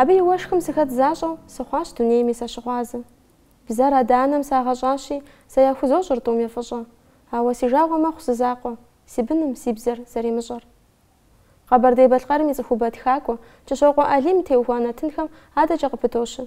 Абы и уэшхым сыхэт защӏэу, сыхъуащ дунейми сэ щыгъуазэ. Бзэр адэ-анэм сагъэщӏащи, сэ яхузощӏыр тӏуми фӏыщӏэ. Ауэ си жагъуэ мэхъу зы закъуэ, си быным си бзэр зэримыщӏэр. Къэбэрдей-Балъкъэрым и цӏыхубэ тхакӏуэ Кӏыщокъуэ Алим теухуа нэтынхэм адэкӏэ къыпыдощэ.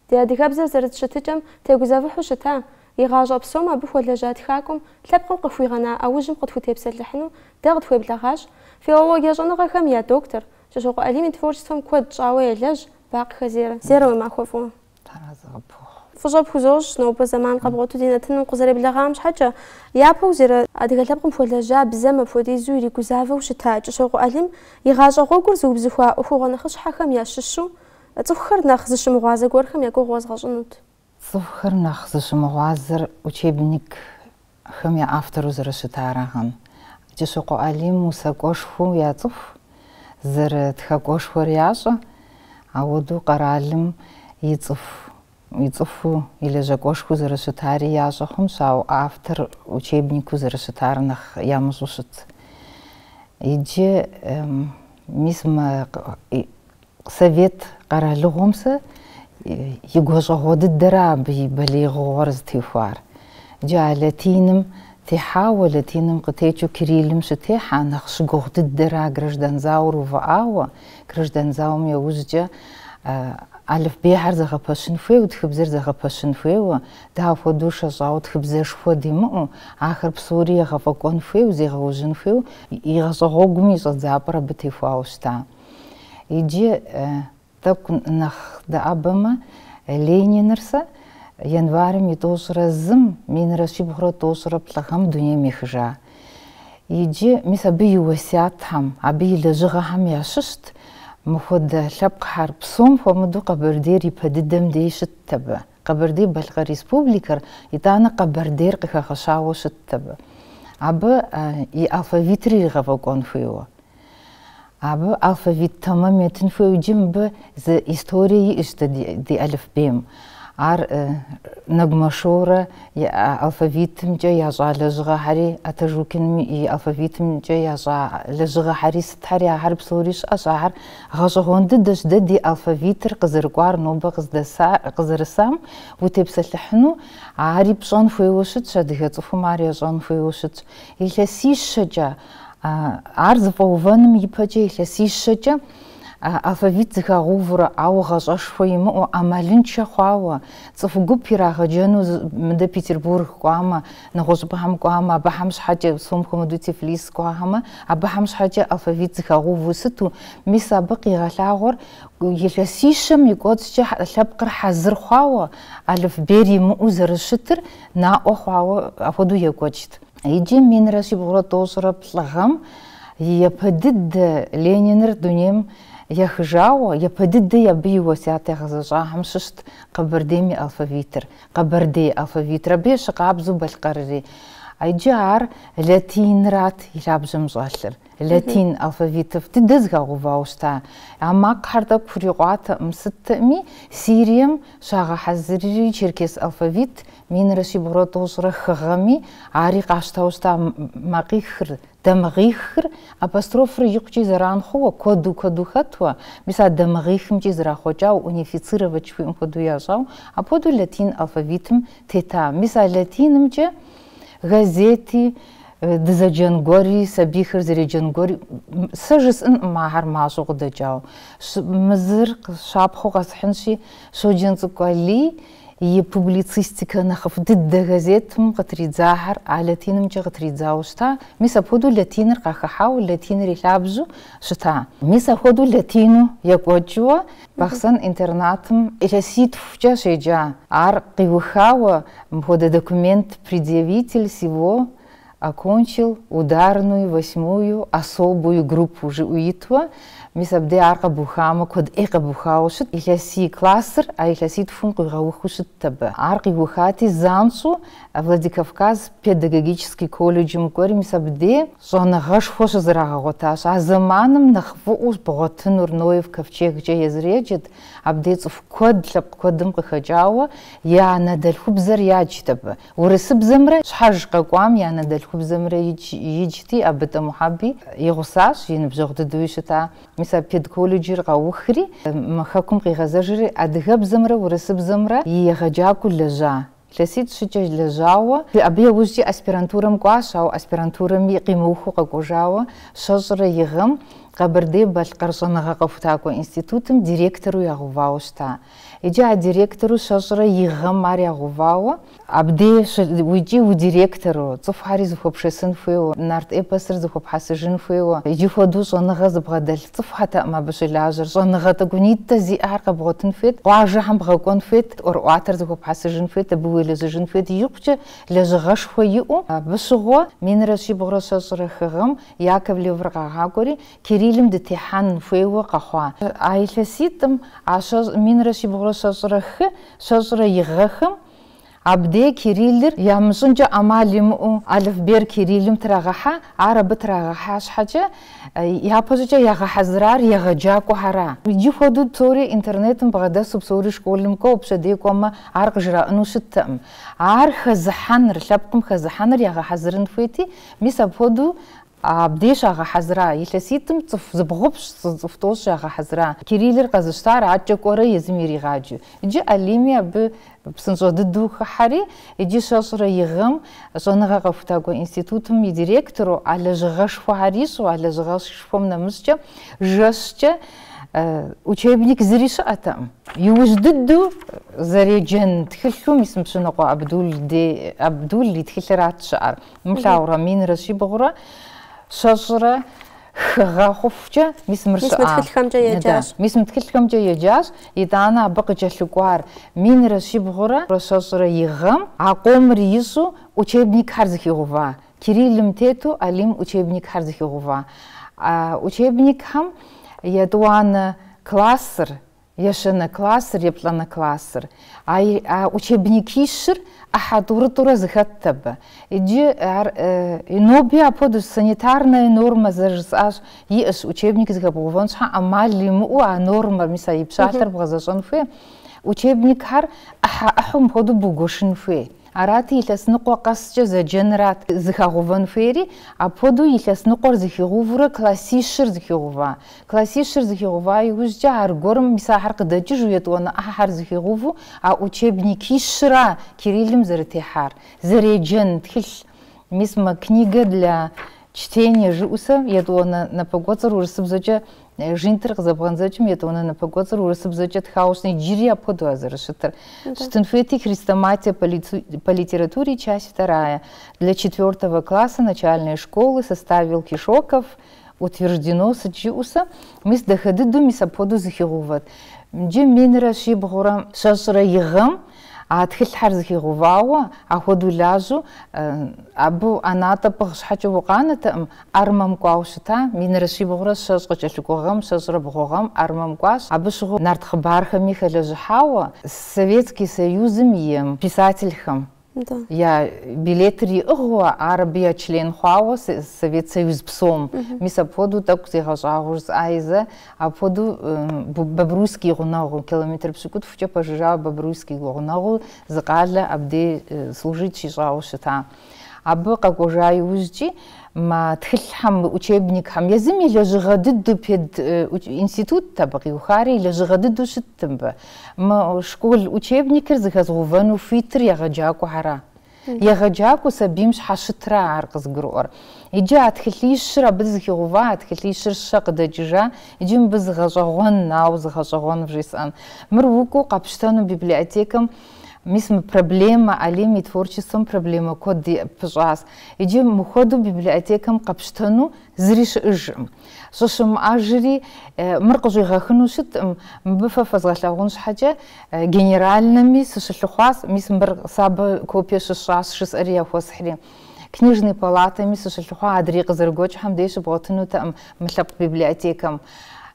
Ди адыгэбзэр зэрыт щытыкӏэм тегузэвыхьу щыта, и гъащӏэ псом абы хуэлэжьа тхакӏуэм лъэпкъым къыхуигъэна ӏэужьым къытхутепсэлъыхьыну дэ къытхуеблэгъащ филология щӏэныгъэхэм я доктор, Кӏыщокъуэ Алим и творчествэм куэд щӏауэ елэжь Бакъхэ Зерэ. Зерэ, уи махуэ фӏыуэ. Тхьэразэ къыпхухъу. Фӏыщӏэ пхузощӏ нобэ зэман къэбгъуэту ди нэтыным укъызэреблэгъам щхьэкӏэ. Япэу Зерэ адыгэ лъэпкъым хуэлэжьа бзэм апхуэдизу иригузавэу щыта Кӏыщокъуэ Алим и гъащӏэ гъуэгур зыубзыхуа ӏуэхугъуэ нэхъыщхьэхэм ящыщу цӏыхухэр нэхъ зыщымыгъуазэ гуэрхэм я гугъу уэзгъэщӏынут. Цӏыхухэр нэхъ зыщымыгъуазэр учебникхэм я автору зэрыщытарагъэн, Кӏыщокъуэ Алим усакӏуэшхуэу яцӏыху, зэрытхакӏуэшхуэр ящӏэ, ауэдэу къэралым и цӏыху, и цӏыхуу, и лэжьакӏуэшхуэу зэрыщытари ящӏэ хъунщ, ауэ автор учебнику зэрыщытар нэхъ ямыщӏэу щыт. Иджы, мис мы Совет къэралыгъуэм сэ и гуащӏэгъуэ дыдэра абы и балигъыгъуэр зытехуар. Иджы а латиным техьауэ, латиным къытекӏыу кириллым щытехьа нэхъ щыгугъу дыдэра граждан зауэр увыӏауэ, граждан зауэм яужькӏэ алыфбейхьэр зэгъэпэщын хуейуэ, тхыбзэр зэгъэпэщын хуейуэ, дауэ хуэдэу шэщӏауэ тхыбзэшхуэ димыӏэу, ахэр псори егъэфӏэкӏуэн хуейуэ, зегъэужьын хуейуэ, и гъащӏэгъуэгум и щӏэдзапӏэр абы техуауэ щыта. Иджы, тӏэкӏу нэхъ дэӏэбэмэ, Лениныр сэ январым и тӏощӏрэ зым, минрэ щибгъурэ тӏощӏрэ плӏы гъэм дунейм ехыжа. Иджы, мис абы и уэсятхэм, абы и лэжьыгъэхэм ящыщт мыхуэдэ лъэпкъхэр. Псом хуэмыдэу Къэбэрдейр ипэ дыдэм дей щытт абы. Къэбэрдей-Балъкъэр Республикэр, итӏанэ Къэбэрдейр къыхэгъэщауэ щытт абы. Абы и алфавитыр иригъэфӏэкӏуэн хуейуэ. Абы алфавит тэмэм етын хуейуэ. Иджы мыбы зы историе иӏэщ дэ ди алыфбейм. Ар Нэгумэ Шорэ и алфавитымкӏэ ящӏа лэжьыгъэхьэри, Атажукиным и алфавитымкӏэ ящӏа лэжьыгъэхьэри сытхьэри ахэр псори щыӏэщ. Ахэр гъэщӏэгъуэн дыдэщ дэ ди алфавитыр къызэрыкӏуар нобэ къызэрысам утепсэлъыхьыну. Ари пщӏэн хуейуэ щытщ, адыгэ цӏыхум ар ищӏэн хуейуэ щытщ. Илъэсищэкӏэ. Ар зыфӏэувэным ипэкӏэ илъэсищэкӏэ алфавит зыхагъэувурэ, ауэ гъащӏэшхуэ имыӏэу, ӏэмалыншэ хъуауэ, цӏыху гуп ирагъэджэну мыдэ Петербург кӏуамэ, нэгъуэщӏыпӏэхэм кӏуамэ, абыхэм щхьэкӏэ, псом хуэмыдэу Тифлис кӏуахэмэ, абыхэм щхьэкӏэ алфавит зыхагъэуву сыту, мис абы къигъэлъагъуэр илъэсищэм и кӏуэцӏкӏэ лъэпкъыр хьэзыр хъуауэ, алыфбейр имыӏэу зэрыщытыр наӏуэ хъуауэ апхуэдэу екӏуэкӏт. Иджы минрэ щибгъурэ тӏощӏрэ плӏы гъэм япэ дыдэ Лениныр дунейм ехыжауэ, япэ дыдэ абы и уэсят ягъэзэщӏахэм щыщт Къэбэрдейм и алфавитыр, Къэбэрдей алфавитыр, абы ещхьыркъабзэу Балъкъэрри. Иджы ар латинырат и лъабжьэм щӏэлъыр, латин алфавитыр дыдэ зыхагъэувауэ щыта. А макъхьэр тӏэкӏу хурикъуатэкъым, сытми Сирием щагъэхьэзырри черкес алфавит Минрэ щибгъурэ тӏощӏрэ хы гъэми, ари къащтауэ щыта макъихыр, дамыгъихыр, апострофыр икъукӏи зэран хъууэ, куэду куэду хэтуэ, мис а дамыгъихымкӏи зэрахъуэкӏауэ, унифицировать жыхуиӏэм хуэдэу ящӏауэ, апхуэдэу латин алфавитым тета. Мис а латинымкӏэ газети, дызэджэн гуэри, сабийхэр зэреджэн гуэри, сэ жысӏэнкъым ахэр мащӏэу къыдэкӏауэ. Мы зыр щапхъэу къэсхьынщи, Щоджэнцӏыкӏу Алий И публицистикэ нэхъыфӏ дыдэ газетым къытридзахэр а латинымкӏэ къытридзауэ щыта, мис апхуэдэу латиныр къахыхьауэ, латиныр и лъабжьу щыта. Мис апхуэдэу латину екӏуэкӏыуэ Бахъсэн интернатым илъэситхукӏэ щеджа. Ар къиухауэ, мыпхуэдэ документ предъявитель сего, Окончил ударную, восьмую, особую группу жиӏэу итуэ, мис абдей ар къэбухамэ, куэд ӏей къэбухауэ щыт, илъэсий классыр а илъэситхум къуигъэухыу щытт абы. Ар къиухати, занщӏэу Владикавказ педагогический колледжым кӏуэри, мис абдей щӏэныгъэшхуэ щызэрагъэгъуэтащ. А зэманым нэхъ фӏыӏуэу бгъуэтынур Ноев ковчегкӏэ езыр еджэт, абдей цӏыху куэд лъэпкъ куэдым къыхэкӏауэ я анэдэлъхубзэр яджт абы. Урысыбзэмрэ щхьэж къэкӏуам я анэдэлъхубзэмрэ иджти абы Тӏэ Мухьэби и гъусащ, и ныбжьэгъу дыдэуи щыта. Мис а педколледжыр къиухри, мы хэкум къигъэзэжри, адыгэбзэмрэ урысыбзэмрэ и егъэджакӏуэу лэжьа. Илъэситӏ-щыкӏэ лэжьауэ, абы яужькӏи аспирантурэм кӏуащ, ауэ аспирантурэми къимыухыу къэкӏуэжауэ, щэщӏрэ и гъэм Къэбэрдей-Балъкъэр щӏэныгъэ къэхутакӏуэ институтым директору ягъэувауэ щыта. Иджы а директору щэщӏрэ и гъэм ар ягъэувауэ. Абдей уикӏи удиректору, цӏыхухьэри зыхуэпшэсын хуейуэ, нарт эпосыр зыхуэпхьэсыжын хуейуэ. Иджы хуэдэу щӏэныгъэ зыбгъэдэлъ цӏыхухэтэкъым абы щылажьэр. Щӏэныгъэ тӏэкӏунитӏэ зиӏэхэр къэбгъуэтын хуейт, къуажэхэм бгъэкӏуэн хуейт, ӏуэрыӏуатэр зыхуэпхьэсыжын хуейт, абы уелэжьыжын хуейт, икъукӏэ лэжьыгъэшхуэ иӏэу. Абы щыгъуэ, минрэ щибгъурэ щэщӏрэ хы гъэм Яковлевыр къагъакӏуэри, Кириллым дытехьэн хуейуэ къэхъуа. А илъэситӏым а щэ минрэ щибгъурэ щэщӏрэ хы, щэщӏрэ и гъэхэм абдей кириллыр ямыщӏынкӏэ ӏэмал имыӏэу алыфбейр кириллым трагъэхьа, ар абы трагъэхьа щхьэкӏэ, япэщӏыкӏэ ягъэхьэзырар егъэджакӏуэхэра. Иджы хуэдэу псори интернетым бгъэдэсу псори школым кӏуэу пщэдей кӏуэмэ ар къыжраӏэну щыттэкъым. Ар хэзыхьэныр, лъэпкъым хэзыхьэныр ягъэхьэзырын хуейти, мис апхуэдэу Абдей щагъэхьэзыра илъэситӏым цӏыху зыбгъупщӏ зы цӏыху тӏощӏ ягъэхьэзыра. Кириллыр къэзыщтар адэкӏэ кӏуэрэ езым иригъаджэу. Иджы Алими абы псынщӏэ дыдэу хыхьэри, иджы щэщӏрэ и гъэм щӏэныгъэ къэхутакӏуэ институтым и директору, а лэжьыгъэшхуэхэр ищӏу, а лэжьыгъэшхуэм нэмыщӏкӏэ жэщкӏэ учебник зыри щыӏэтэкъым. Иужь дыдэу зэреджэн тхылъу мис мы Пщынокъуэ Абдул и тхылъырат щыӏэр. Умылъагъурэ, минрэ щибгъурэ щэщӏрэ хы гъэ хъуфукӏэ мис мыр щыӏа? Мис мы тхылъхэмкӏэ э, еджащ. Мис мы тхылъхэмкӏэ еджащ, итӏанэ абы къыкӏэлъыкӏуар минрэ щибгъурэ щэщӏрэ и гъэм а къомыр ищӏу учебникхэр зыхигъува, Кириллым тету Алим учебникхэр зыхигъува. А учебникхэм етӏуанэ классыр Ещанэ классыр, еплӏанэ классыр. А а учебникищыр ӏыхьэ тӏурытӏурэ зыхэтт абы. Иджы ар ноби апхуэдэу, санитарная норма зэрыжысӏащ, иӏэщ, учебник зыхэбгъэувэн щхьэ ӏэмал имыӏэу а нормэр, мис а и пщалъэр бгъэзэщӏэн хуей, учебникхэр ӏыхьэ ӏыхьэу мыпхуэдэу бугуэшын хуей. Арати, илъэс ныкъуэ къэскӏэ зэджэнырат зыхэгъувэн хуейри, апхуэдэу илъэс ныкъуэр зыхигъувурэ классищыр зыхигъува. Классищыр зыхигъува иужькӏэ аргуэрым мис ахэр къыдэкӏыжу етӏуанэ ӏыхьэхэр зыхигъуву а учебникищра Кириллым зэрытехьар. Зэреджэн тхылъ. Мис мы Книга для чтения жыӏусэ етӏуанэ напэкӏуэцӏыр урысыбзэкӏэ Жинтыр къызэбгъэндзэкӏым етӏуанэ напэкӏуэцӏыр урысыбзэкӏэ тхауэ щытын, иджыри апхуэдэу а зэрыщытыр. Щытын хуейти хрестоматия по литературе часть вторая для четвертого класса начальной школы составил Кешоков, утверждено, сыт жыӏусэ, мис дахэ дыдэу мис апхуэдэу зыхигъэувэт. Джы минрэ щибгъурэ щэщӏрэ и гъэм А тхылъхьэр зыхигъэувауэ, ахуэдэу лажьэу, абы ӏэнатӏэ пӏыгъ щхьэкӏэ укъанэтэкъым, армэм кӏуауэ щыта, минрэ щибгъурэ щэщӏ къыкӏэлъыкӏуэ гъэм, щэщӏрэ бгъу гъэм армэм кӏуащ, абы щыгъуэ нарт хъыбархэми хэлэжьыхьауэ, Советский Союзым и писательхэм я билетыр иӏыгъыуэ, ар абы я член хъуауэ, Совет Союз псом, мис апхуэдэу тӏэкӏу зегъэщӏагъуэу жысӏаи зэ, Апхуэдэу Бобруйск и гъунэгъуу, километр пщыкӏутхукӏэ пэжыжьэуэ Бобруйск и гъунэгъуу зы къалэ абдей служит щищӏауэ щыта. Абы къэкӏуэжа иужькӏи, мы тхылъхэм, мы учебникхэм, езым и лэжьыгъэ дыдэу пединститутт абы къиухари, и лэжьыгъэ дыдэу щытт мыбы. Мы школ учебникыр зыхэзыгъэувэну хуитыр егъэджакӏуэхьэра? Егъэджакӏуэу сабийм щхьэщытра ар къызгурыӏуэр? Иджы а тхылъищыр абы зыхигъэува, а тхылъищыр щэ къыдэкӏыжа, иджы мыбы зы гъэщӏэгъуэн, нау зы гъэщӏэгъуэн вжесӏэн. Мыр укӏуэу къэпщтэну библиотекэм, мис мы проблемэ, Алим и творчествэм проблемэ куэд пыщӏащ. Иджы мыхуэдэу библиотекэм къэпщтэну Зыри щыӏыжкъым. Щӏыщымыӏэжри, мыр къыщӏигъэхыну щыткъым, мыбы фэ фэзгъэлъагъун щхьэкӏэ генеральнэми сыщылъыхъуащ, мис мыр сэ абы копие щысщӏащ, жысӏэри яхуэсхьри. Книжный палатэми сыщылъыхъуа адрей къызэрыгуэкӏхэм дей щыбгъуэтынутэкъым мы лъэпкъ библиотекэм.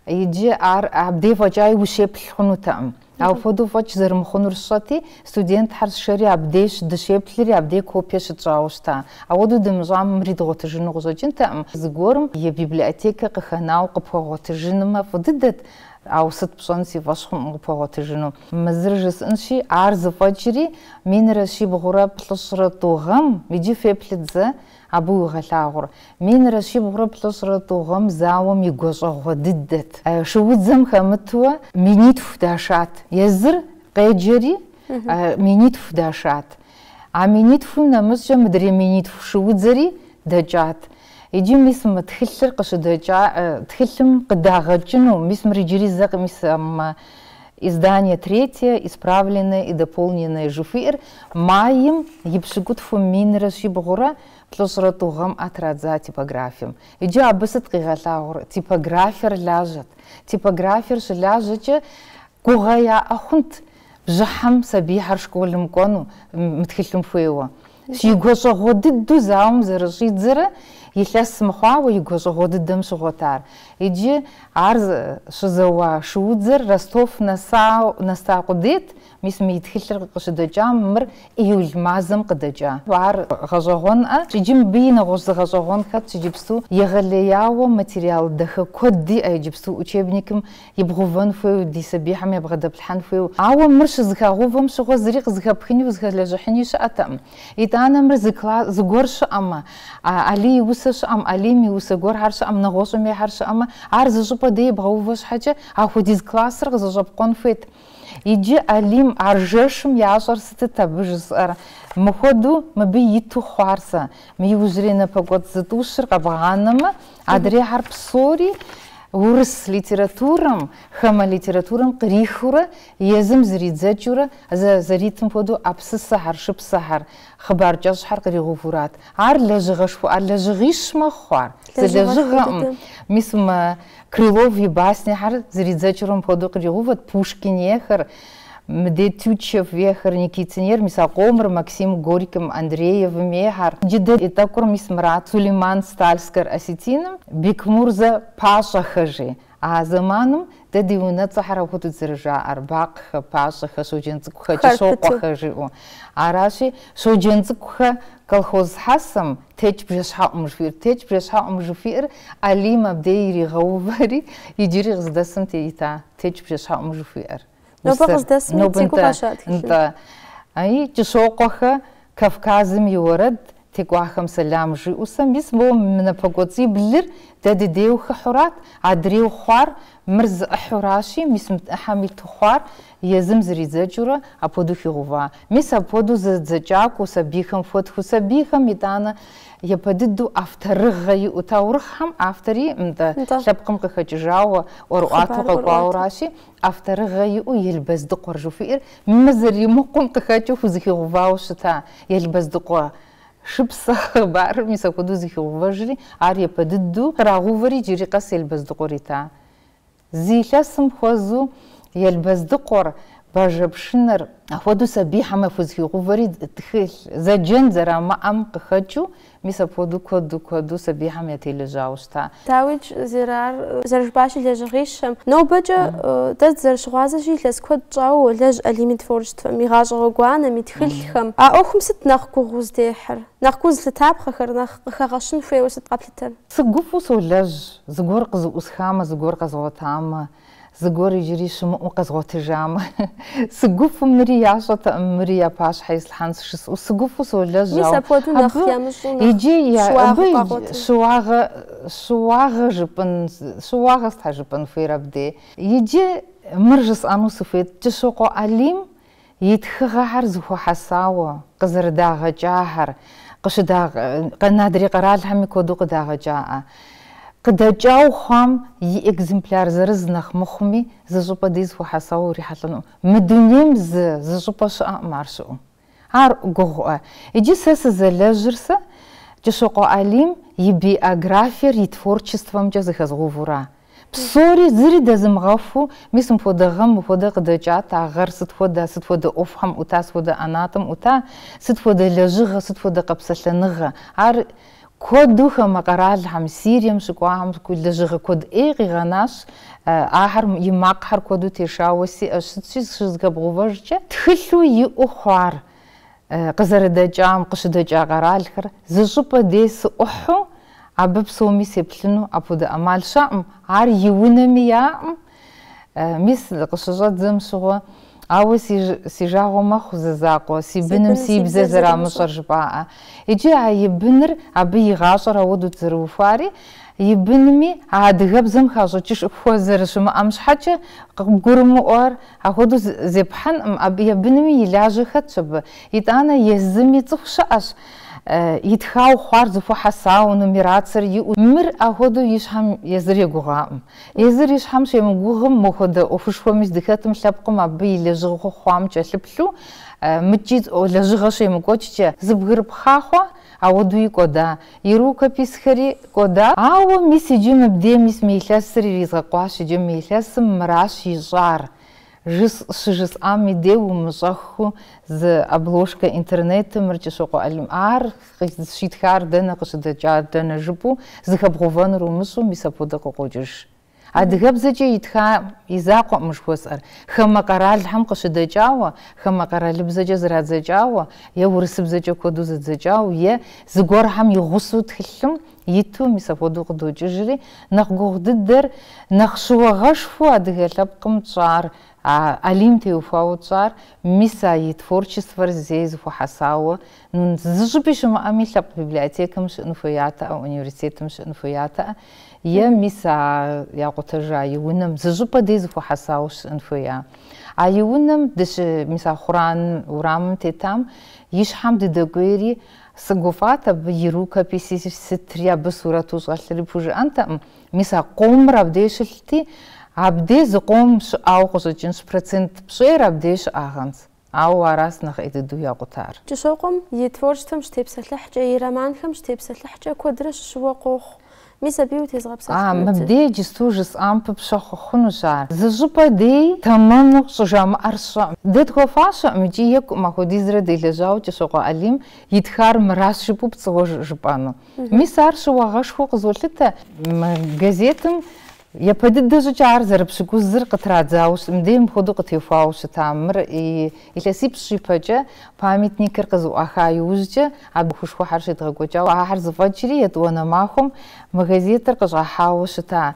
Иджы ар абдей фӏэкӏаи ущеплъ хъунутэкъым. Апхуэдэу фӏэкӏ зэрымыхъунур сщӏэти, студентхьэр сшэри абдеж дыщеплъри абдей копие щытщӏауэ щыта. Ауэдэу дымыщӏам мыри дгъуэтыжыну къыщӏэкӏынтэкъым. Зыгуэрым и библиотекэ къыхэнауэ къыпхуэгъуэтыжынмэ фӏы дыдэт, ауэ сыт пщӏэн, си фӏэщ хъункъым къыпхуэгъуэтыжыну. Мы зыр жысӏэнщи, ар зыфӏэкӏри, минрэ щибгъурэ плӏыщӏрэ тӏу гъэм, иджы феплъыт зэ, Абы уигъэлъагъур минрэ щибгъурэ плӏыщӏрэ тӏу гъэм зауэм и гуащӏэгъуэ дыдэт. Шуудзэм хэмытуэ минитху дашат. Езыр къеджэри, минитху дашат. А минитхум нэмыщӏкӏэ мыдрей минитху шуудзэри дэкӏат. Иджы мис мы тхылъыр къыщыдэкӏа, тхылъым къыдагъэкӏыну, мис мыр иджыри зэ къимысамэ, Издание третье, исправленное и дополненное жыхуиӏэр майм и пщыкӏутхум минрэ щибгъурэ плӏыщӏрэ тӏу гъэм традза типографием. Иджы абы сыт къигъэлъагъуэр? Типографиер лажьэт. Типографиер щылажьэкӏэ гугъэ яӏэ хъунт бжьыхьэм сабийхэр школым кӏуэну, мы тхылъым хуейуэ. И гуащӏэгъуэ дыдэу зауэм зэрыщӏидзэрэ илъэс мыхъуауэ и гуащӏэгъуэ дыдэм щыгъуэт ар. Иджы ар щызэуа шуудзэр Ростов нэса къудейт, мис мы и тхылъыр къыщыдэкӏам мыр июль мазэм къыдэкӏа. Ар гъэщӏэгъуэнкъэ, иджы мыбы и нэгъуэщӏ зы гъэщӏэгъуэн хэтщ иджыпсту егъэлеяуэ материал дахэ куэд иӏэ иджыпсту учебникым ибгъэувэн хуейуэ, ди сабийхэм ябгъэдэплъхьэн хуейуэ. Ауэ мыр щызыхагъэувэм щыгъуэ зыри къызыхэпхыни узыхэлэжьыхьыни щыӏэтэкъым. Итӏанэ мыр зы кла, зыгуэр щыӏэмэ, Алий и усэ щыӏэм, Алим и усэ гуэрхэр щыӏэм, нэгъуэщӏым ейхэр щыӏэмэ, ар зы щӏыпӏэ дей ибгъэувэ щхьэкӏэ, ахуэдиз классыр къызэщӏэпкъуэн хуейт. Иджы Алим ар жэшым ящӏэр сытыт абы жысӏэр? Мыхуэдэу мыбы иту хъуар сэ. Мы иужьрей напэкӏуэцӏ зытӏущыр къэбгъанэмэ, Адрейхьэр псори урыс литературэм, хамэ литературэм кърихыурэ, езым зэридзэкӏыурэ, зэ зэритым хуэдэу э, псысэхэр, шыпсэхэр, хъыбар кӏэщӏхэр къригъэувэурат. Ар лэжьыгъэшхуэ, ар лэжьыгъищ мэхъу ар, зы лэжьыгъэкъым. Мис мы Крылов и баснехэр зэридзэкӏыурэ мыпхуэдэу къригъэувэт, Пушкин ейхэр. Мыдэ Тютчев ейхэр, Никитин ейр, мис а къомыр, Максим Горьким Андреевым ейхэр. Иджы дэ ди тӏэкӏур мис мырат Сулейман Стальскэр Осетиным Бекмурзэ Пащӏэхэ жи. А зэманым дэ ди унэцӏэхэр абы хуэдэт зэрыжаӏэр, бакъхэ, пащӏэхэ, Щоджэнцӏыкӏухэ, Хэр пыту. Кӏыщокъуэхэ жиӏэу. Аращи, Щоджэнцӏыкӏухэ колхоз хьэсэм Текӏ бжэщхьэӏум! жыхуиӏэр. Текӏ бжэщхьэӏум! жыхуиӏэр Алим абдей иригъэувэри, иджыри къыздэсым теита Текӏ бжэщхьэӏум! жыхуиӏэр. Нобэ Усэр. къыздэсми Нобэ цӏыкӏуу нтӏэ, къаща тхылъым. нтӏэ. Аи, Кӏыщокъуэхэ, Кавказым и уэрэд, текӏуахэм сэлам жиӏэу сэ мис моуэ мы напэкӏуэцӏиблыр дэ дыдейуэ хыхьэурат, адрейуэ хъуар, мыр зы ӏыхьуращи, мис мы ӏыхьэм иту хъуар, Езым зэридзэкӏыурэ апхуэдэу хигъэува. Мис апхуэдэу зэдзэкӏакӏуэу сабийхэм хуэтхыу, сабийхэм итӏанэ япэ дыдэу авторыгъэ иӏэу, таурыхъхэм автор иӏэ нтӏэ, Нтӏэ. лъэпкъым къыхэкӏыжауэ, ӏуэрыӏуатэу Хъыбар къэкӏуауэ ӏуэрыӏуатэ. аращи, авторыгъэ иӏэу Елбэздыкъуэр жыхуиӏэр мы зэримыкъум къыхэкӏыу хузыхигъэувауэ щыта Елбэздыкъуэ шыпсэ хъыбарыр мис апхуэдэу зыхигъэувэжри, ар япэ дыдэу кърагъэувэри иджыри къэс Елбэздыкъуэр ита Зы илъэсым хуэзу Елбэздыкъуэр, Бажэ пшынэр. Апхуэдэу сабийхьэмэ хузыхигъувэри тхылъ, зэджэн зэрамыӏэм къыхэкӏыу, мис апхуэдэу куэду куэду сабийхьэм ятелэжьауэ щыта. Дауикӏ зэры, ар зэрыжыпӏащи лэжьыгъищэм. Нобэкӏэ дэ дызэрыщыгъуазэщи илъэс куэд щӏауэ уолэжь Алим и творчествэм, и гъащӏэ гъуэгуанэм, и тхылъхэм. А ӏуэхум сыт нэхъ гугъу узыдехьыр? Нэхъ гу зылъытапхъэхэр, нэхъ къыхэгъэщын хуейуэ сыт къэплъытэр? Сыгуфӏу солэжь, зыгуэр къызэӏусхамэ, зыгуэр къэзгъуэтамэ, зыгуэр иджыри щымыӏэу къэзгъуэтыжамэ. Сыгуфӏу, мыри ящӏэтэкъым, мыри я пащхьэ ислъхьэнщ жысӏэу, сыгуфӏу солэжь, Мис ауэ апхуэдэу нэхъ абы ямыщӏу, нэхъ иджы я, щыуагъэу абы къагъуэтыр. щыуагъэ, щыуагъэ жыпӏэн, щыуагъэ стхьэ жыпӏэн хуейр абдей? Иджы мыр жысӏэну сыхуейт, Кӏыщокъуэ Алим И тхыгъэхэр зыхуэхьэсауэ къызэрыдагъэкӏахэр, къыщыдагъэ, адрей къэралхэми куэду къыдагъэкӏаӏэ. Къыдэкӏауэ хъуам и экземпляр зырыз нэхъ мыхъуми, зы щӏыпӏэ дей зыхуэхьэсауэ урихьэлӏэнукъым. Мы дунейм зы, зы щӏыпӏэ щыӏэкъым ар щыӏэу. Ар гугъуӏэ. Иджы сэ сызэлэжьыр сэ Кӏыщокъуэ Алим и биографиер и творчествэмкӏэ зэхэзгъэувура? Псори зыри дэзымыгъэхуу, мис мыпхуэдэ гъэм мыпхуэдэ къыдэкӏат, а гъэр сыт хуэдэ, сыт хуэдэ ӏуэхухэм ӏута, сыт хуэдэ ӏэнатӏэм ӏута, сыт хуэдэ лэжьыгъэ, сыт хуэдэ къэпсэлъэныгъэ. Ар куэду хамэ къэралхэм, Сирием щыкӏуахэм лэжьыгъэ куэд ӏей къигъэнащ, ахэр и макъхэр куэду тешауэ сиӏэу щытщи, зыщызыхэбгъэувэжкӏэ тхылъу иӏэу хъуар. Къызэрыдэкӏам, къыщыдэкӏа къэралхэр зы щӏыпӏэ дей сыӏухьэу, абы псоми сеплъыну апхуэдэ ӏэмал щыӏэӏым, ар и унэми яӏэӏым. Мис, къыщыщӏэдзэм щыгъуэ, ауэ си жагъуэ мэхъу зы закъуэ, си быным си бзэр зэрамыщӏэр жыпӏаӏэ. Иджы а и быныр, абы и гъащӏэр ауэдут зэрыухуари, и бынми а адыгэбзэм хащӏыкӏышхуэ зэрыщымыӏэм щхьэкӏэ къыбгурымыӏуэр, Апхуэдэу зепхьэнкъым, абы и бынми и лажьэ хэтщ абы. Итӏанэ езыми цӏыху щыӏэщ, итхауэ хъуар зыхуэхьэсауэ, нумерацэр иӏэу. Мыр апхуэдэу и щхьэм езыр егугъакъым. Езыр и щхьэм щемыгугъым, мыхуэдэ ӏуэхушхуэми здыхэтым лъэпкъым абы и лэжьыгъэу хъуам кӏэлъыплъу, мыкӏи лэжьыгъэ щемыкӏуэкӏкӏэ, зыбгырыпхъа хъуа, ауэдуи кӏуэда. И рукописхэри кӏуэда? Ауэ мис иджы мыбдей мис мы илъэсыр иризгъэкъуащ иджы мы илъэсым мыращ ищӏар, жыс щыжысӏам и дей умыщӏэххэу зы обложкэ интернетым мыр Кӏыщокъуэ Алим ар щитхар дэнэ къыщыдэкӏар дэнэ жыпӏэу зыхэбгъувэнур умыщӏэу мис апхуэдэ къыкъокӏыж. Адыгэбзэкӏэ итха и закъуэӏым жыхуэсӏэр. Хамэ къэралхэм къыщыдэкӏауэ, хамэ къэралыбзэкӏэ зрадзэкӏауэ, е урысыбзэкӏэ куэду зэдзэкӏауэ, е зыгуэрхэм и гъусэу тхылъым иту мис апхуэдэу къыдокӏыжри, нэхъ гугъу дыдэр, нэхъ щыуагъэшхуэу адыгэ лъэпкъым тщӏар, Алим теухуауэ тщӏар, мис а и творчествэр зэи зыхуэхьэсауэ, зы щӏыпӏи щымыӏэми, лъэпкъ библиотекэм щыӏын хуеятэӏэ, университетым щыӏын хуеятэӏэ. Е мис а якъутэжа и унэм зы щӏыпӏэ дей зыхуэхьэсауэ щыӏэн хуея? А и унэм, дыщы, мис а Хъуран урамым тетам, и щхьэм дыдэкӏуейри, сыгуфӏат абы и рукописи сытри, абы сурэту щӏэлъри пхужыӏэнтэкъым, мис а къомыр абдей щылъти, абдей зы къом щыӏауэ къыщӏэкӏынщ, процент пщӏейр абдей щыӏагъэнщ. Ауэ аращ нэхъ ӏей дыдэу якъутар. Кӏыщокъуэм и творчествэм щытепсэлъыхькӏэ, и романхэм щытепсэлъыхькӏэ куэдрэ щыщыуэ къохъу. Мис абыи утезгъэпсэлъыхьынут. Мыбдеж иджысту жысӏам пыпщэ хъухунущ ар. Зы щӏыпӏэ дей тэмэму щӏыжамыӏэр сщӏэӏым. Дэ тхуэфащэӏым икӏи екӏуӏым ахуэдизрэ делэжьауэ Кӏыщокъуэ Алим итхар мыращ жыпӏэу пцӏыуэ жыпӏэну. Мис ар щыуагъэшхуэу къызолъытэ. Мы газетым Япэ дыдэ щӏыкӏэ ар зэрыпщыкӏузыр къытрадзауэ щыт, мыдей мыпхуэдэу къытехуауэ щытам. Мыр илъэсипщӏ ипэкӏэ, памятникыр къызыӏуаха иужькӏэ абы ӏуэхушхуэхьэр щедгъэкӏуэкӏауэ. Ахэр зыфӏэкӏри, етӏуанэ махуэм мы газетыр къыщӏахьауэ щыта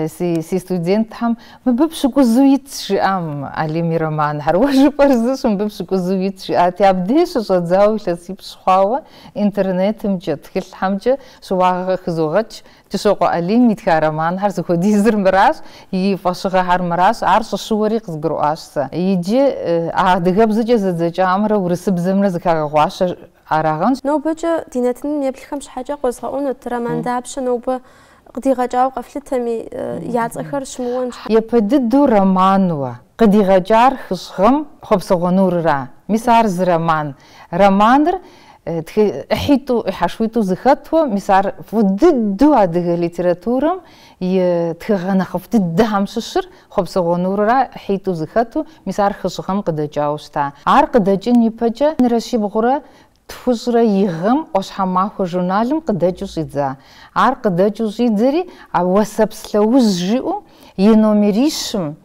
си студентхэм, Мыбы пщыкӏузу итщ, жиӏам Алим и романхэр. Уэ жыпӏэр зыщ, мыбы пщыкӏузу итщ, жиӏати, абдей щыщӏэдзауэ илъэсипщӏ хъуауэ интернетымкӏэ, тхылъхьэмкӏэ щыуагъэ къыхызогъэкӏ Кӏыщокъуэ Алим итха романхэр зыхуэдизыр мыращ, и фӏэщыгъэхэр мыращ, ар щӏыщыуэри къызгурыӏуащ сэ. Иджы а адыгэбзэкӏэ зэдзэкӏамрэ урысыбзэмрэ зыхагъэгъуащэ арагъэнщ. Нобэкӏэ ди нэтыным еплъхэм щхьэкӏэ къозгъэӏунут роман дапщэ нобэ къыдигъэкӏауэ къэфлъытэми, я цӏэхэр щымыуэн щхьэкӏэ. Япэ дыдэу романуэ къыдигъэкӏар хыщӏ гъэм Хъуэпсэгъуэ нурра. Мис ар зы роман, Романыр тхы ӏыхьитӏу, ӏыхьэшхуитӏу зыхэту, мис ар фӏы дыдэу адыгэ литературэм и тхыгъэ нэхъыфӏ дыдэхэм щыщыр Хъуэпсэгъуэ нурра ӏыхьитӏу зыхэту, мис ар хыщӏ гъэм къыдэкӏауэ щыта. Ар къыдэкӏын ипэкӏэ минрэ щибгъурэ тхущӏрэ и гъэм ӏуащхьэмахуэ журналым къыдэкӏыу щӏидза. Ар къыдэкӏыу щӏидзэри а Уэсэпс лъэужь жиӏэу и номерищым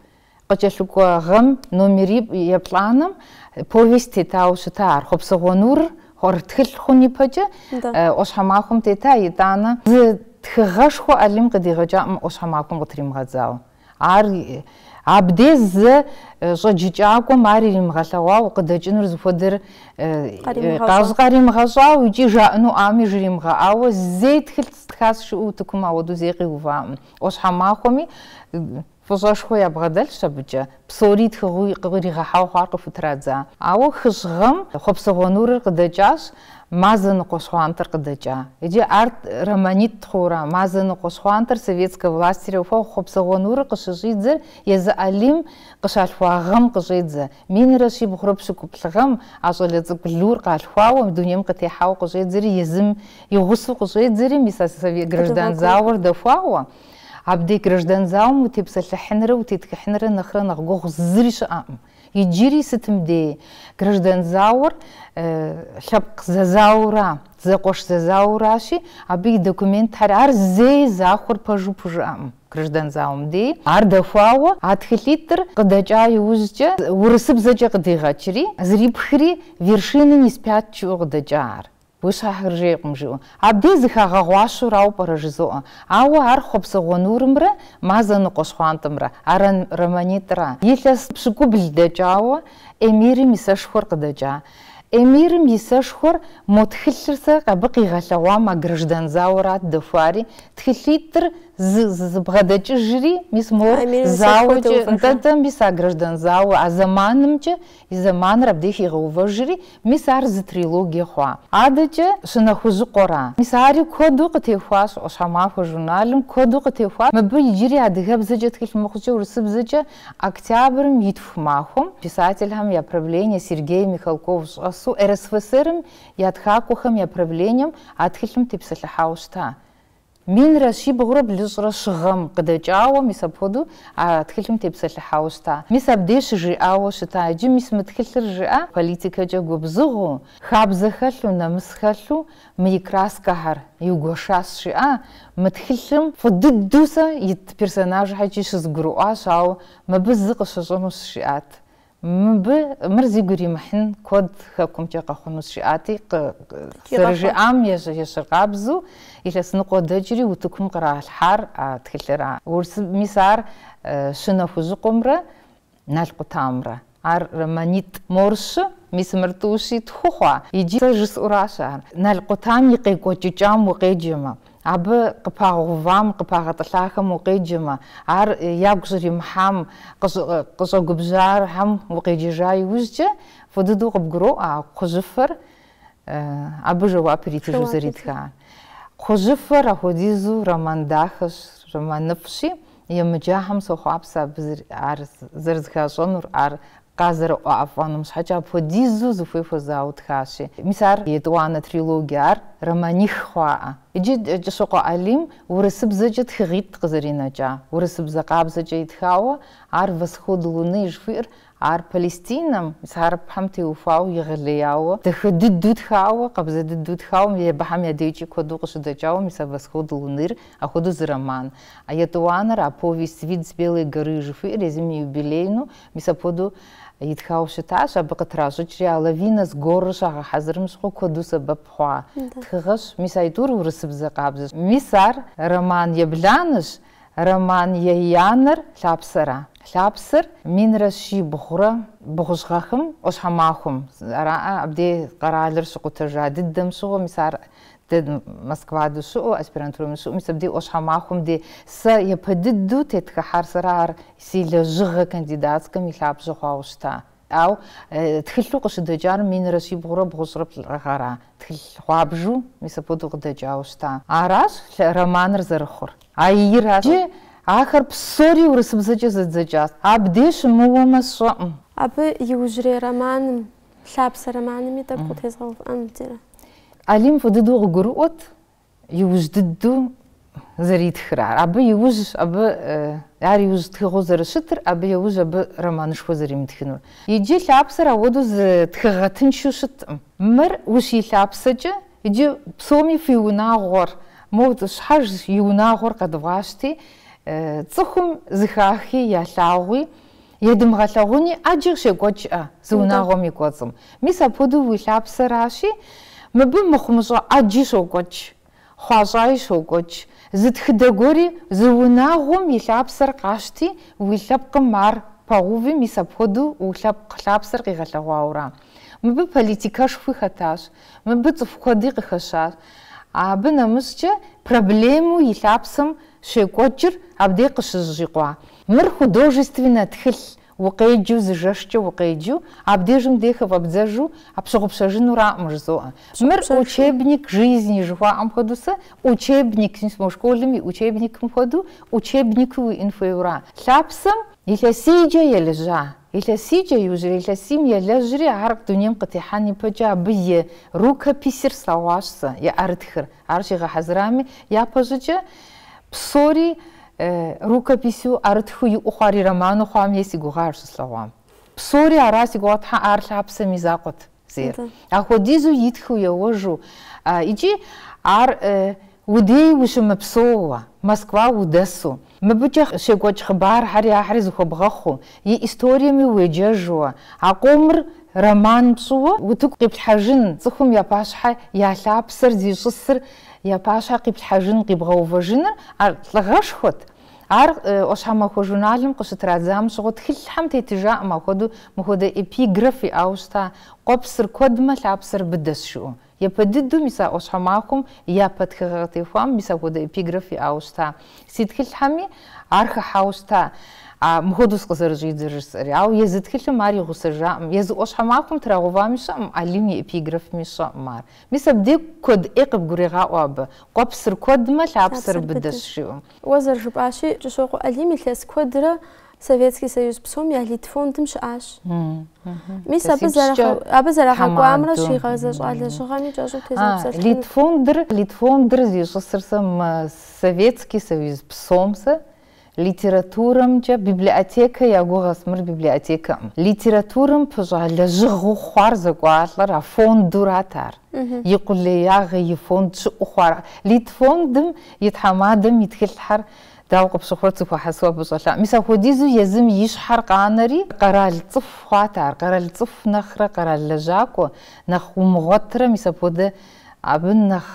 Къыкӏэлъыкӏуэ гъэм номер еплӏанэм повесть тетауэ щыта ар. Хъуэпсэгъуэ нурыр тхылъ хъун ипэкӏэ ӏуащхьэмахуэм тета, итӏанэ зы тхыгъэшхуэ Алим къыдигъэкӏаӏым ӏуащхьэмахуэм къытримыгъэдзауэ. Ар абдей зэ щӏэджыкӏакӏуэм ар иримыгъэлъэгъуауэ къыдэкӏынур зыхуэдэр къащ къаримыгъэщӏауэ икӏи жаӏэну ӏами жримыгъэӏауэ зэи тхылъ стхащ жыӏэу утыкум ауэдэу зэи къиуваӏым. ӏуащхьэмахуэми Фӏыщӏэшхуэ ябгъэдэлъщ абыкӏэ, псори тхыгъэу къыригъэхьауэ хъуар къыхутрадза. Ауэ хыщӏ гъэм Хъуэпсэгъуэ Нурыр къыдэкӏащ, Мазэ ныкъуэ щхъуантӏэр къыдэкӏа. Иджы ар романитӏ хъуура, Мазэ ныкъуэ щхъуантӏэр советскэ властыр ухуэгъу Хъуэпсэгъуэ Нурыр къыщыщӏидзэр езы Алим къыщалъхуа гъэм къыщӏедзэ. Минрэ щибгъурэ пщыкӏуплӏ гъэм а щӏалэ цӏыкӏу Лур къалъхуауэ, дунейм къытехьауэ къыщӏедзэри, езым и гъусэу къыщӏедзэри, мис а граждан зауэр дэхуауэ, Абдеж граждан зауэм утепсэлъыхьынрэ утетхыхьынрэ нэхърэ нэхъ гугъу зыри щыӏэкъым. Иджыри сытым дей граждан зауэр лъэпкъ зэзаура, зэкъуэш зэзауращи, абы и документхэр ар зэи захуэр пэжу пхужыӏэкъым граждан зауэм дей. Ар дэхуауэ а тхылъитӏыр къыдэкӏа иужькӏэ урысыбзэкӏэ къыдигъэкӏри, зэрипхри вершины не спят жиӏэу къыдэкӏа ар. Ӏуащхьэхэр жейкъым, жиӏэу. Абдей зэхагъэгъуащэурауэ пӏэрэ жызоӏэ. Ауэ ар Хъуэпсэгъуэ Нурымрэ Мазэ Ныкъуэ Щхъуантӏэмрэ ар романитӏра? Илъэс пщыкӏубл дэкӏауэ Эмирым и сэшхуэр къыдэкӏа. Эмирым и сэшхуэр мо тхылъыр сэ абы къигъэлъэгъуам а граждан зауэрат дэхуари, тхылъитӏыр зы зэбгъэдэкӏыжри, мис мор А Эмирым и сэшхуэр зауэкӏэ, дэувэжа? нтӏэ-нтӏэ, мис а граждан зауэ а зэманымкӏэ И зэманыр абдеж хигъэувэжри, мис ар зы трилогие хъуа. Адэкӏэ Щынэхужьыкъуэра? Мис ари куэду къытехуащ Ӏуащхьэмахуэ журналым, куэду къытехуащ мыбы иджыри адыгэбзэкӏэ тхылъ мыхъукӏэ урысыбзэкӏэ Октябрым и тху махуэм, писательхэм я правление Сергей Михалков щӏэсу РСФСР-м я тхакӏуэхэм я правлением а тхылъым тепсэлъыхьауэ щыта. Минрэ щибгъурэ блыщӏрэ щы гъэм къыдэкӏауэ мис апхуэдэу а тхылъым тепсэлъыхьауэ щыта. Мис абдей щыжиӏауэ щыта иджы, мис мы тхылъыр жыӏэ политикэкӏэ губзыгъэу, хабзэ хэлъу, нэмыс хэлъу мы и краскэхэр иугуэшащ жиӏа, мы тхылъым фӏы дыдэу сэ ит персонажхьэкӏи щызгурыӏуащ, ауэ мыбы зы къыщыщӏынущ жиӏат. Мыбы, мыр зигу иримыхьын куэд хэкумкӏэ къэхъунущ жиӏати, зэрыжиӏам ещхьыркъабзэу илъэс ныкъуэ дэкӏри утыкум къралъхьар а тхылъыр а. Урысыб, мис ар Щынэхужьыкъуэмрэ Нал къутамрэ. Ар романитӏ. Мор щы, мис мыр тӏущи тху хъуа? Иджы сэ жысӏэуращ ар. Нал къутам и къекӏуэкӏыкӏам укъеджэмэ, Абы къыпагъэувам, къыпагъэтӏылъахэм укъеджэмэ, ар ягу щӏримыхьам, къыщӏэгубжьахэм укъеджэжа иужькӏэ, фӏы дыдэу къыбгуроӏуэ а Кхъужьыфэр абы жэуап иритыжу зэритхар. Кхъужьыфэр апхуэдизу роман дахэщ, романыфӏщи, Емыджахэм сохъуапсэ абы ар зэрызыхащӏэнур, ар къазэрыӏуафӏэнум щхьэкӏэ апхуэдизу зыхуей хуэзауэ тхащи. Мис ар етӏуанэ трилогие, ар романих хъуаӏэ. Иджы Кӏыщокъуэ Алим урысыбзэкӏэ тхыгъитӏ къызэринэкӏа, урысыбзэ къабзэкӏэ итхауэ, ар Восход луны жыхуиӏэр Ар Палестинэм, мис а хьэрыпхьэм теухуауэ, егъэлеяуэ, дахэ дыдэу тхауэ, къабзэ дыдэу тхауэ, мобыхьэм я дежкӏи куэду къыщыдэкӏауэ мис а Восход луныр, апхуэдэу зы роман. А етӏуанэр, а повесть Вид с белой горы жыхуиӏэр езым и юбилейну мис апхуэдэу итхауэ щытащ, абы къытращӏыкӏри а Лавина с горыр щагъэхьэзырым щыгъуэ куэду сэбэп хъуа тхыгъэщ. Мис аитӏур урысыбзэ къабзэщ. Мис ар роман ебланэщ, Роман еянэр Лъапсэра? Лъапсэр минрэ щибгъурэ бгъущӏ гъэхым ӏуащхьэмахуэм, ара абдей къэралыр щыкъутэжа дыдэм щыгъуэ, мис ар дэ Москва дыщыӏэу, аспирантурэм щыӏэу, мис абдей ӏуащхьэмахуэм де сэ япэ дыдэу тетхыхьар сэра ар си лэжьыгъэ кандидатскэм и лъабжьэ хъуауэ щыта. Ауэ тхылъу къыщыдэкӏар минрэ щибгъурэ бгъущӏрэ плӏы гъэра? Тхылъ гъуабжу, мис апхуэдэу къыдэкӏауэ щыта. Аращ романыр зэрыхъур. А иращ. Иджы ахэр псори урысыбзэкӏэ зэдзэкӏащ. Абдей сыщымыуэмэ сщӏэкъым. Абы иужьрей романым, Лъапсэ романми тӏэкӏу къытезгъэувыӏэнут, ира. Алим фӏы дыдэу къыгурыӏуэт. Иужь дыдэу зэритхыр ар. Абы иужь абы ар иужь тхыгъэу зэрыщытыр, абы иужь абы романышхуэ зэримытхынур. Иджы лъапсэр ауэдэу зы тхыгъэ тыншу щыткъым. Мыр ущилъапсэкӏэ иджы псоми фи унагъуэр, мо щхьэж и унагъуэр къэдывгъащти, цӏыхум зыхахи ялъагъуи, Едымыгъэлъэгъуни, ӏэджи щекӏуэкӏ-ӏэ зы унагъуэм и кӏуэцӏым? Мис апхуэдэу уи лъапсэращи, мыбы мыхъумыщӏэ ӏэджи щокӏуэкӏ, хъуащӏаи щокӏуэкӏ. Зы тхыдэ гуэри зы унагъуэм и лъапсэр къащти, уи лъэпкъым ар пэгъэуви, мис апхуэдэу уи лъэпкъ лъапсэр къигъэлъэгъуауэ ара? Мыбы политикэшхуи хэтащ, мыбы цӏыху куэди къыхэщащ. Абы нэмыщӏкӏэ проблемэу и лъапсэм щекӏуэкӏыр абдей къыщыжьыкъуа Мыр художественнэ тхылъ, укъеджэу зы жэшкӏэ укъеджэу, абдежым де хыфӏэбдзэжу пщыгъупщэжынураӏым, жызоӏэ. Мыр учебник жизни жыхуаӏэм хуэдэу сэ учебник, мы школым и учебникым хуэдэу, учебнику уиӏэн хуейуэра? Лъапсэм? Илъэсийкӏэ елэжьа, илъэсийкӏэ иужьрей илъэсийм елэжьри ар дунейм къытехьэн ипэкӏэ абы и рукописыр слъэгъуащ сэ, и ӏэрытхыр. Ар щигъэхьэзырами, япэщӏыкӏэ псори рукопису, ӏэрытхыу иӏэу хъуар и роману хъуам ей си гугъа ар щыслъэгъуам. Псори ара си гугъэ, тхьэ, ар лъапсэм и закъуэт зейр. Апхуэдизу итхыу еуэжу икӏи ар уи дей ущымыпсэууэ, Москва удэсу, Мыбыкӏэ щекӏуэкӏ хъыбархьэри ахьэри зыхуэбгъэхъуу, и историями уеджэжууэ, а къомыр роман пщӏыуэ утыку къиплъхьэжын, цӏыхум я пащхьэ я лъапсэр зищӏысыр я пащхьэ къиплъхьэжын, къибгъэувэжыныр а лӏыгъэшхуэт. Ар ӏуащхьэмахуэ журналым къыщытрадзам щыгъуэ тхылъхьэм тетыжаӏым апхуэдэу мыхуэдэ эпиграф иӏауэ щыта, Къуэпсыр куэдмэ, лъапсэр быдэщ, жыӏэу. Япэ дыдэу мис а ӏуащхьэмахуэм япэ тхыгъэ къытехуам мис апхуэдэ эпиграф иӏауэ щыта? Си тхылъхьэми ар хыхьауэ щыта, мыхуэдэус къызэрыщӏидзэр жысӏэри. Ауэ езы тхылъым ар и гъусэжакъым, езы ӏуащхьэмахуэм трагъэувами щыӏэкъым, Алим и эпиграфми щыӏэкъым ар. Мис абдег куэд ӏей къыбгурегъаӏуэ абы, Къуэпсыр куэдмэ, лъапсэр быдэщ, жиӏэу. Уэ зэрыжыпӏащи, Кӏыщокъуэ Алим илъэс куэдрэ Советский Союз псом я Литфондым щыӏащ. Мис абы абы зэрагъэкӏуамрэ щигъэзэщӏа лэжьыгъэми кӏэщӏу утезгъэпсэлъыхьынут. Литфондыр Литфондыр зищӏысыр сэ Советский Союз псом сэ литературэмкӏэ библиотекэ я гугъэс, мыр библиотекэкъым. Литературэм пыщӏа лэжьыгъэу хъуар зэкӏуалӏэр а фондурат ар. И къулеягъэ, и фонд щыӏэу хъуар. Литфондым и тхьэмадэм и тхылъхьэр Дауэ къыпщыхъурэ зэхуэхьэсауэ абы щӏэлъа? Мис апхуэдизу езым и щхьэр къанэри, къэрал цӏыху хъуат ар. Къэрал цӏыху нэхърэ къэрал лэжьакӏуэ нэхъ умыгъуэтырэ, мис апхуэдэ абы нэхъ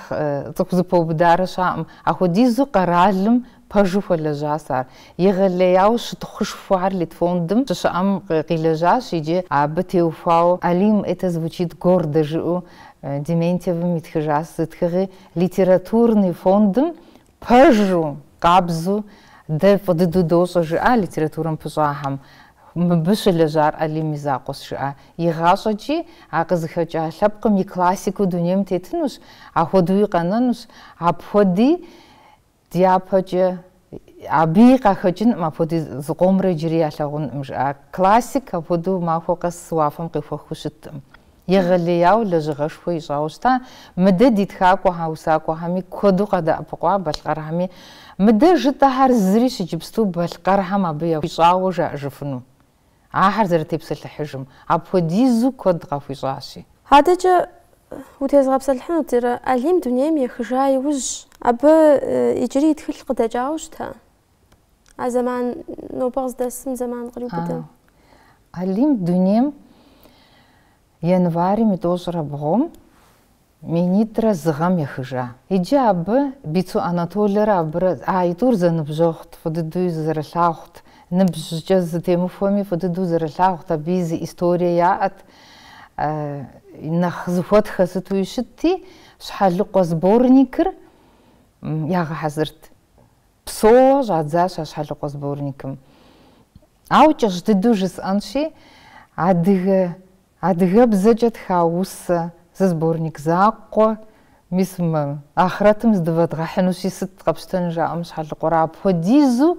цӏыху зыпэубыдарэ щыӏакъым. Ахуэдизу къэралым пэжу хуэлэжьащ ар. Егъэлеяуэ щытхъушхуэхэр Литфондым щыщыӏэм къилэжьащ иджы абы теухуауэ Алим это звучит гордо жыӏэу Дементьевым итхыжащ зы тхыгъи Литературный фондым Пэжу, къабзу, дэ фӏы дыдэу дощӏэ, жыӏа литературэм пыщӏахэм. Мыбы щылэжьар Алим и закъуэщ, жыӏа. Игъащӏэкӏи, а къызыхэкӏа лъэпкъым и классику дунейм тетынущ, ахуэдэуи къэнэнущ. Апхуэди дяпэкӏэ абыи къахэкӏынкъым, апхуэди зыкъомрэ иджыри ялъагъункъым, жыӏа. Классик апхуэдэу махуэ къэс уафэм къехуэхыу щыткъым. Егъэлеяуэ лэжьыгъэшхуэ ищӏауэ щыта мыдэ ди тхакӏуэхьэ усакӏуэхьэми куэду къадэӏэпыкъуа балъкъэрхьэми. Мыдэ жытӏэхьэр зырищ иджыпсту балъкъэрхьэм абы яхуищӏауэ жаӏэжыфыну. Ахэр зэрытепсэлъыхьыжым апхуэдизу куэд къахуищӏащи. Адэкӏэ утезгъэпсэлъыхьынут Ирэ Алим дунейм ехыжа иужь абы иджыри и тхылъ къыдэкӏауэ щыта? А зэман нобэ къыздэсым зэман къриубыдэ. Алим дунейм январым и тӏощӏрэ бгъум минитӏрэ зы гъэм ехыжа. Иджы абы Бицу Анатолэрэ абырэ аитӏур зэныбжьэгъут, фӏы дыдэуи зэрылъагъут, ныбжькӏэ зытемыхуэми фӏы дыдэу зэрылъагъут, абыи зы историе яӏэт, нэхъ зыхуэтхэ сытуи щытти, Щхьэлыкъуэ сборникыр ягъэхьэзырт. Псоуэ щӏадзащ а щхьэлыкъуэ сборникым. Ауэ кӏэщӏ дыдэу жысӏэнщи, адыгэ, адыгэбзэкӏэ тха усэ, зы сборник закъуэ, мис мы ахърэтым здывэдгъэхьынущи сыт къэпщтэн жаӏэм щхьэлыкъуэр апхуэдизу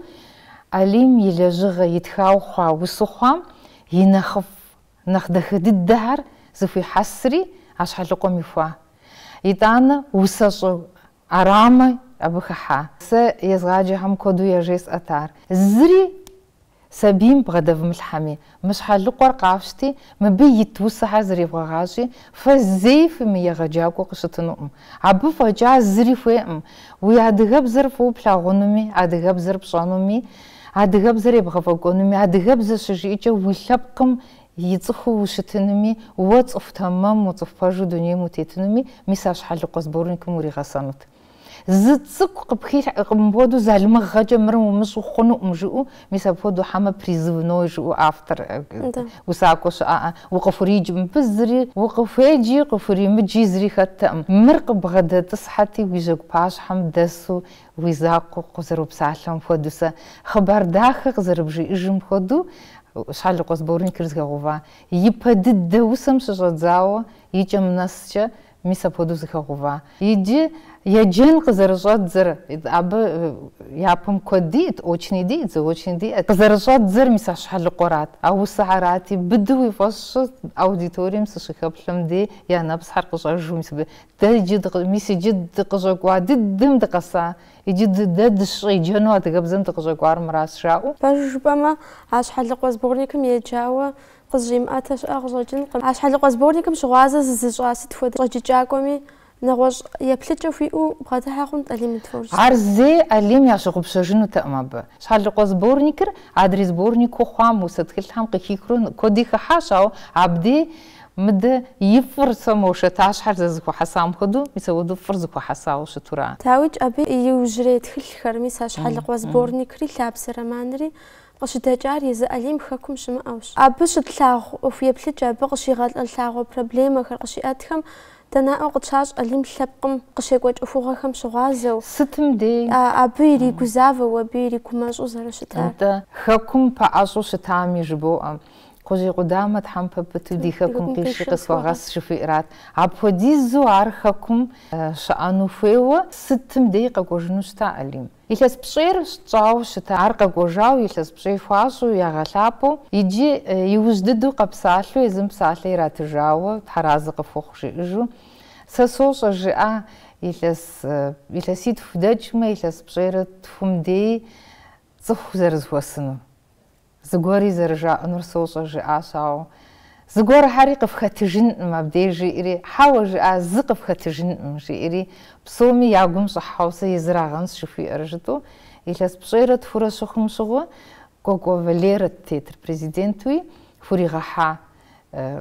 Алим и лэжьыгъэ итхауэ хъуа усэу хъуам и нэхъыфӏ, нэхъ дахэ дыдэхэр зэхуихьэсри а щхьэлыкъуэм ихуа. Итӏанэ усэщӏэ Ӏэрамэ абы хыхьа. Сэ езгъаджэхэм куэду яжесӏэт ар. Зыри сабийм бгъэдэвмылъхьэми, мы Щхьэлыкъуэр къафщти, мыбы ит усэхэр зревгъэгъащӏи, фэ зэи фымыегъэджакӏуэу къыщытынукъым. Абы фӏэкӏа зыри хуейкъым. Уи адыгэбзэр фӏыуэ плъагъунуми, адыгэбзэр пщӏэнуми, адыгэбзэр ебгъэфӏэкӏуэнуми, адыгэбзэ щыжиӏэкӏэ уи лъэпкъым И цӏыхуу ущытынуми, уэ цӏыху тэмэму, цӏыху пэжу дунейм утетынуми, мис а щхьэлыкъуэ сборникым уригъэсэнут. Зы цӏыкӏу къыпхилъхьэркъым мыпхуэдэу залымыгъэкӏэ мыр умыщӏу хъунукъым жыӏэу, мис апхуэдэу хьэмэ призывной жыӏэу автор усакӏуэ щыӏэкъэ, укъыхуридж мыбы зыри, укъыхуеджи, къыхуримыджи зыри хэттэкъым. Мыр къыбгъэдэтӏысхьэти, уи жьэгу пащхьэм дэсу Уи закъуэ къызэропсалъэм хуэдэу, сэ хъыбар дахэ къызэрыбжиӏэжым хуэдэу, Щхьэлыкъуэ сборникыр зэхэгъэува. Ипэ дыдэ усэм щыщӏэдзауэ и кӏэм нэскӏэ, мис апхуэдэу зэхэгъэува. Иджы еджэн къызэрыщӏэдзэр, абы япэм куэд диӏэт, очный диӏэт, заочный диӏэт, къызэрыщӏэдзэр мис а Щхьэлыкъуэрат, а усэхэрати, быдэу уи фӏэщ щӏы, аудиторием сыщыхэплъэм дей я нэпсхэр къыщӏэжу мис абы Дэ иджы дыкъы, мис иджы дыкъыщӏэкӏуа дыдэм дыкъэса, иджы ды, дэ дыщӏеджэну адыгэбзэм дыкъыщӏэкӏуар мыращ, жаӏэу. Пэжу жыпӏэмэ, а щхьэлыкъуэ сборникым еджауэ къызыщӏимыӏэтэ щыӏэ къыщӏэкӏынкъым. А щхьэлыкъуэ сборникым щыгъуазэ зызыщӏа сыт хуэдэ щӏэджыкӏакӏуэми нэгъуэщӏ еплъыкӏэ хуиӏэу бгъэдыхьэ хъунт Алим и творчествэм. Ар зэи Алим ящыгъупщэжынутэкъым абы. Щхьэлыкъуэ сборникыр адрей сборнику хъуам, усэ тхылъхэм къыхихыурэ куэди хыхьащ, ауэ абдей, Мыдэ и фӏыр сэ мо шатэщхьэр зэхуэхьэсам хуэдэу, мис апхуэдэу фӏыр зэхуэхьэсауэ щыту ара. Дауикӏ абы и иужьрей тхылъхэр, мис а щхьэлыкъуэ сборникри Лъапсэ романри къыщыдэкӏар езы Алим хэкум щымыӏэущ. Абы щытлъагъу ӏуэху еплъыкӏэ, абы къыщигъэлъагъуэ проблемэхэр къыщиӏэтхэм дэ наӏуэу къытщащӏ Алим лъэпкъым къыщекӏуэкӏ ӏуэхугъуэхэм щыгъуазэу, сытым дейи абы иригузавэу, абы иригумэщӏу зэрыщытар. Нтӏэ, хэкум пэӏэщӏу щытами жыбоӏэ. Кхъужьей къудамэ тхьэмпэ пыту ди хэкум къиши къысхуэгъэс жыхуиӏрат. Апхуэдизу ар хэкум щыӏэну хуейуэ сытым дей къэкӏуэжыну щыта Алим. Илъэс пщӏейр тщӏауэ щыта, ар къэкӏуэжауэ илъэс пщӏей хуащӏу, ягъэлъапӏэу иджы иужь дыдэу къэпсалъэу езым псалъэ иратыжауэ тхьэразэ къыфхухъу жиӏэжу, Сэ сощӏэ, жиӏа, илъэс илъэситху дэкӏмэ илъэс пщӏейрэ тхум дей цӏыху зэрызэхуэсынур. Зыгуэрри зэрыжаӏэнур сощӏэ, жиӏащ, ауэ зыгуэрхьэри къыфхэтыжынкъым абдеж, жиӏэри, хьэуэ, жиӏа, зы къыфхэтыжынкъым, жиӏэри, псоми я гум щӏыхьэу, сэ езырагъэнщ жыхуиӏэр, жытӏэу, илъэс пщӏейрэ тхурэ щыхъум щыгъуэ, Кӏуэкӏуэ Валерэт тетыр президентуи, хуригъэхьа.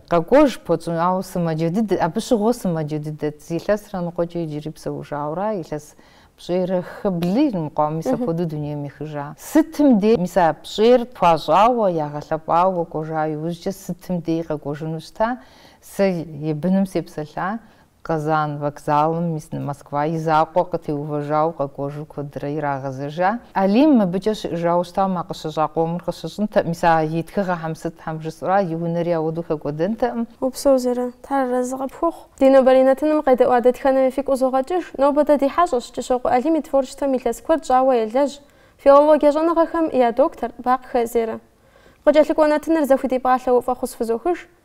Къэкӏуэж пхуэтщӏыну, ауэ сымаджэ дыдэт, абы щыгъуэ сымаджэ дыдэт. Зы илъэсрэ ныкъуэкӏэ иджыри псэужауэра, илъэс пщӏейрэ хы, блы иримыкъуа, мис апхуэдэу дунейм ехыжа. Сытым дей, мис а пщӏейр хуащӏауэ, ягъэлъэпӏауэ кӏуэ кӏуэжа иужькӏэ, сытым дей къэкӏуэжыну щыта, сэ и быным сепсэлъа, Казан вокзалым мис Москва и закъуэ къытеувэжауэ къэкӏуэжу куэдрэ ирагъэзэжа. Алим мыбыкӏэ щыӏэжауэ щытам а къыщыщӏа къомыр къыщыщӏынтэкъым, мис а и тхыгъэхэм сытхьэм жысӏэра, и унэри ауэдэу хэкӏуэдэнтэкъым. Упсэу, Зерэ, Тхьэразэ къыпхухъу. Ди нобэрей нэтыным къедэӏуа дэтхэнэми фигу къызогъэкӏыж. Нобэ дэ ди хьэщӏэщ Кӏыщокъуэ Алим и творчествэм илъэс куэд щӏауэ елэжь, филологие щӏэныгъэхэм я доктор Бакъхэ Зерэ. Къыкӏэлъыкӏуэ нэтыныр зэхудипӏалъэу фӏэхъус фызохыж.